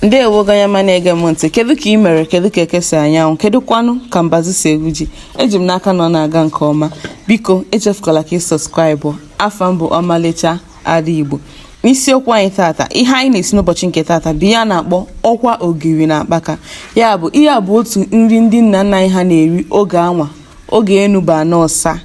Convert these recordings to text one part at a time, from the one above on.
ndewo gị onye ọma na-ege m ntị kedu ka ị mere kedu ka eke si anya anwụ kedu kwanụ ka mbazi si egwu ji eji m n'aka na ọ na-aga nke ọma biko echefukwala ka ị subscribe afa m bụ ọmalịcha ada igbo n'isiokwu anyị tata ihe anyị na-esi n'ụbọchị nke tata bụ ihe a na-akpọ ọkwa ogiri na akpaka ya bụ ihe a bụ otu nri ndị nna nna anyị ha na-eri oge anwa Oge enu bụ ana ọsa,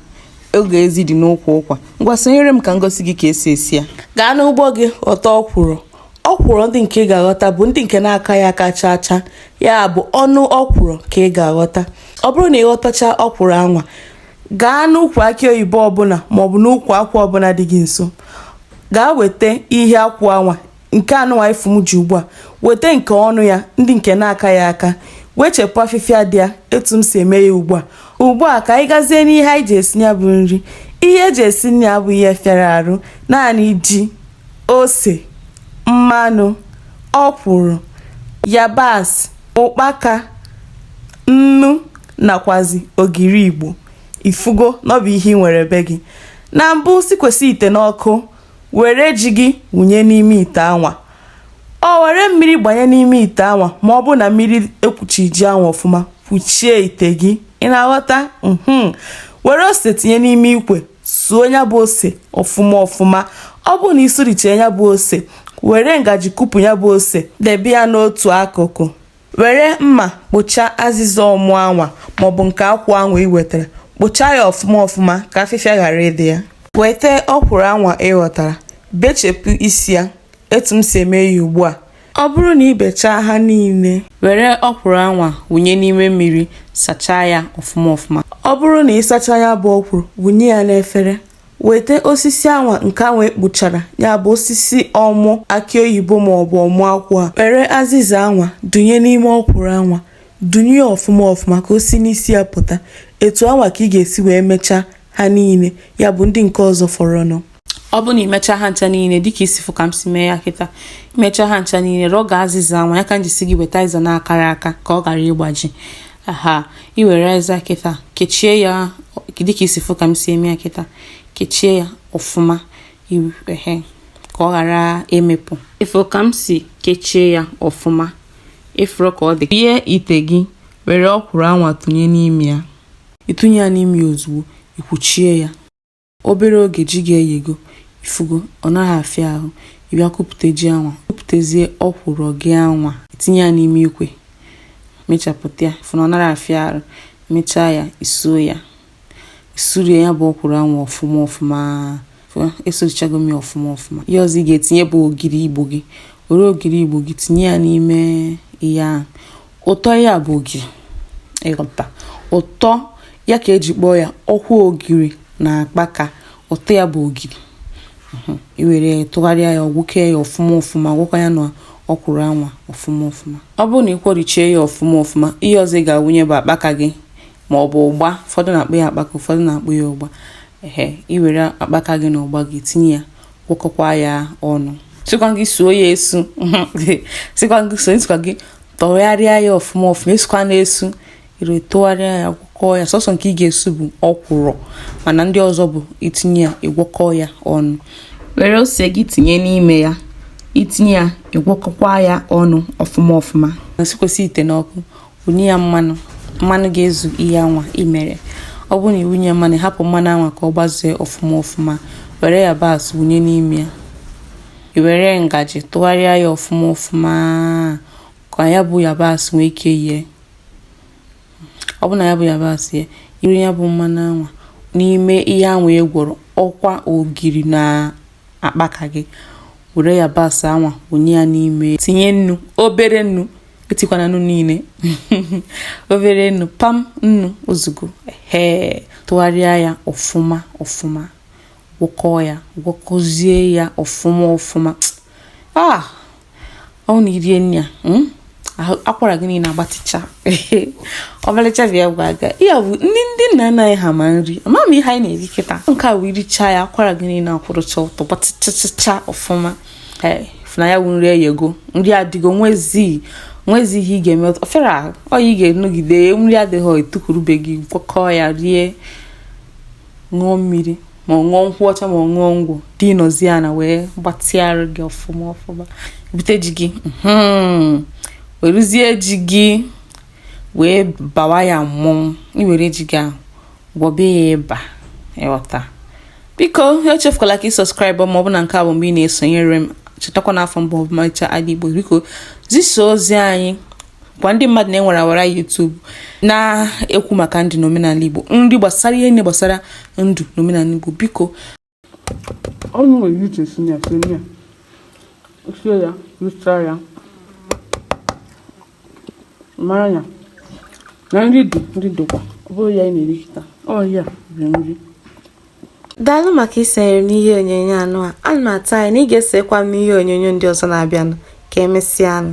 oge ezi dị n'ukwu ụkwa. Ngwa sonyere m ka m gosi gị ka e si esi ya. Gaa n'ugbo gị ghọta ọkwụrụ. Ọkwụrụ ndị nke ị ga-aghọta bụ ndị nke na-akaghị aka chaa chaa, ya bụ ọnụ ọkwụrụ ka ị ga-aghọta. Ọ bụrụ na ị ghọtachaa ọkwụrụ anwa, gaa n'ukwu akị oyibo ọbụna maọbụ n'ukwu akwụ ọbụna dị gị nso. Gaa weta ihe akwụ anwa nke anụnwa ị fụ m ji ugbu a weta nke ọnụ ya ndị nke na-akaghị aka wechepụ afịfịa dị ya etu m si eme ya ugbu a ugbu a ka anyị gazie n'ihe anyị ji esi ya bụ nri ihe e ji esi nri a abụghị ihe fịara arụ naanị ji ose mmanụ ọkwụrụ yabasị ụkpaka nnu nakwazi ogiri igbo ị fụgo na ọ bụ ihe ị nwere be gị na mbụ sikwesị ite n'ọkụ Were ji gị wụnye n'ime ite anwa. Ọ were mmiri gbanye n'ime ite anwa ma ọ bụ na mmiri ekwuchi ji anwa ọfụma kwuchie ite gị ị na-aghọta mhm. were ose tinye n'ime ikwe sụọ ya bụ ose ọfụma ọfụma ọ bụrụ na ị sụrichee ya bụ ose were ngaji kupu ya bụ ose debe ya n'otu akụkụ were mma kpụchaa azịza ọmụ anwa maọbụ nke akwụ anwa ị wetara kpụchaa ya ọfụma ọfụma ka afịfịa ghara ịdị ya weta ọkwụrụ anwa ị ghọtara bechepụ isi ya etu m si eme ya ugbu a ọ bụrụ na ị bechaa ha niile were ọkwụrụ anwa wụnye n'ime mmiri sachaa ya ọfụma ọfụma ọ bụrụ na ị sachaa ya bụ ọkwụrụ wụnye ya n'efere Weta osisi anwa nke anwa ị kpụchara, ya bụ osisi ọmụ akị oyibo maọbụ ọmụ akwụ a. Were azịza anwa dunye n'ime ọkwụrụ anwa. Dunye ya ọfụma ọfụma ka o si n'isi ya pụta. Etu anwa ka ị ga-esi wee mechaa ha niile, ya bụ ndị nke ọzọ fọrọnụ. Ọ bụ na i mechaa ha ncha niile dịka i si fụ ka m si mee ya kịta, i mechaa ha ncha niile, rọga azịza anwa, ya ka m ji sị gị weta azịza na-akaghị aka ka ọ ghara ịgbaji. aha i were ịza kịta kechie ya dịka i si fụ ka m si eme ya kịta kechie ya ọfụma ehe ka ọ ghara imepụ ị fụ ka m si kechie ya ọfụma ị fụrụ ka ọ dị ihe ite gị were ọkwụrụ anwa tụnye n'ime ya ị tụnye ya n'ime ya ozugbo i kwuchie ya Obere oge ji gị eyego, ifugo, ọ nara afịa ahụ, ị bịa kupute ji anwa, kuputezie ọkwụrụ gị anwa, itinye ya n'ime ikwe, mechapụta ya, fụ na ọ nara afịa arụ, mechaa ya, isuo ya, isurie ya bụ ọkwụrụ anwa ọfụma ọfụma, esurichago m ya ọfụma ọfụma. Ihe ọzọ ị ga-etinye bụ ogiri igbo gị, were ogiri igbo gị tinye ya n'ime ihe ahụ. ụtọ ya bụ ogiri ịghọta ụtọ ya ka eji kpọọ ya ọkwa ogiri na akpaka ụtọ ya bụ ogiri mhm. iwere tụgharịa ya gwọkọọ ya ọfụma ọfụma gwọkwa ya na ọkwụrụ anwa ọfụma ọfụma ọ bụrụ na ị kwọrichie ya ọfụma ọfụma ihe ọzọ ị ga-awụnye bụ akpaka gị ma ọ bụ ụgba ụfọdụ na-akpọ ya akpaka ụfọdụ na-akpọ ya ụgba ehe iwere akpaka gị na ụgba gị tinye ya gwọkọkwa ya ọnụ asịkwaghị suo ya esu sịkwa gị tụgharịa ya ọfụma ọfụma esukwana esu iwere tụgharịa ya gwọkọọ ya sọsọ nke ị ga-esu bụ ọkwụrụ mana ndị ọzọ bụ itinye ya ịgwọkọọ ya ọnụ were ose gị tinye n'ime ya itinye ya ịgwọkọkwa ya ọnụ ọfụma ọfụma sikwasị ite n'ọkụ wụnye ya mmanụ mmanụ ga-ezu ihe anwa i mere ọ bụrụ na ị wụnye mmanụ hapụ mmanụ anwa ka ọ gbazee ọfụma ọfụma were yabasị wụnye n'ime ya i were ngaji tụgharịa ya ọfụma ọfụma ka ya bụ yabasị nwee ike yie ọ bụ na ya bụ yabasị yie i were ya bụ mmanụ anwa n'ime ihe anwa e gwọrọ ọkwa ogiri na akpaka gị were yabasị anwa wụnye ya n'ime tinye nnu obere nnu etikwana nnu niile obere nnu pam nnu ozugbo ee tụgharịa ya ọfụma ọfụma gwọkọọ ya gwọkọzie ya ọfụma ọfụma ah ọ wụ na irie nri a hmm? akwara gị niile agbatịcha ọmalịcha bịa gwa aga ya bụ ndị nna nna anyị ha ma nri ama m ihe anyị na-eri kịta nke a wụ irichaa ya akwara gị niile akwụrụcha ọtọ gbatịchachacha ọfụma ee fụ na ya wụ nri eyego nri adịgo nwezi nwezi ihe ị ga-eme ofere ahụ ọyị ị ga-enogide nri adịghị tukwuru be gị gwọkọọ ya rie ṅụọ mmiri ma ọ wụ nkwụ ọcha ma ọ wụ ngwọ dinazie ana wee gbatịa arụ gị ọfụma ọfụma bute ji gị mhm. weruzie ji gị wee bawa ya mmanụ iwere ji gị ahụ gwọbe ya ịba ịghọta biko echefukwala ka ị subscribe ma ọ bụ na nke a bụ mgbe ị na-esonyere m chetakwa na afa m bụ Ọmalịcha Ada Igbo biko zisa ozi anyị gwa ndị mmadụ na enwere ọwara YouTube na-ekwu maka ndụ na omenala Igbo nri gbasara ihe niile gbasara ndụ na omenala Igbo biko ọ nwere ihe uche si ya si ya sie ya richaa ya mara ya na nri dị nri dịkwa ọ bụrụ ya ị na-eri kịtaa ya bụ nri daalụ maka isonyere m n'ihe onyonyo anụ a ana m atụ anya na ị ga-esokwa m n'ihe onyonyo ndị ọzọ na-abịanụ ka emesịanụ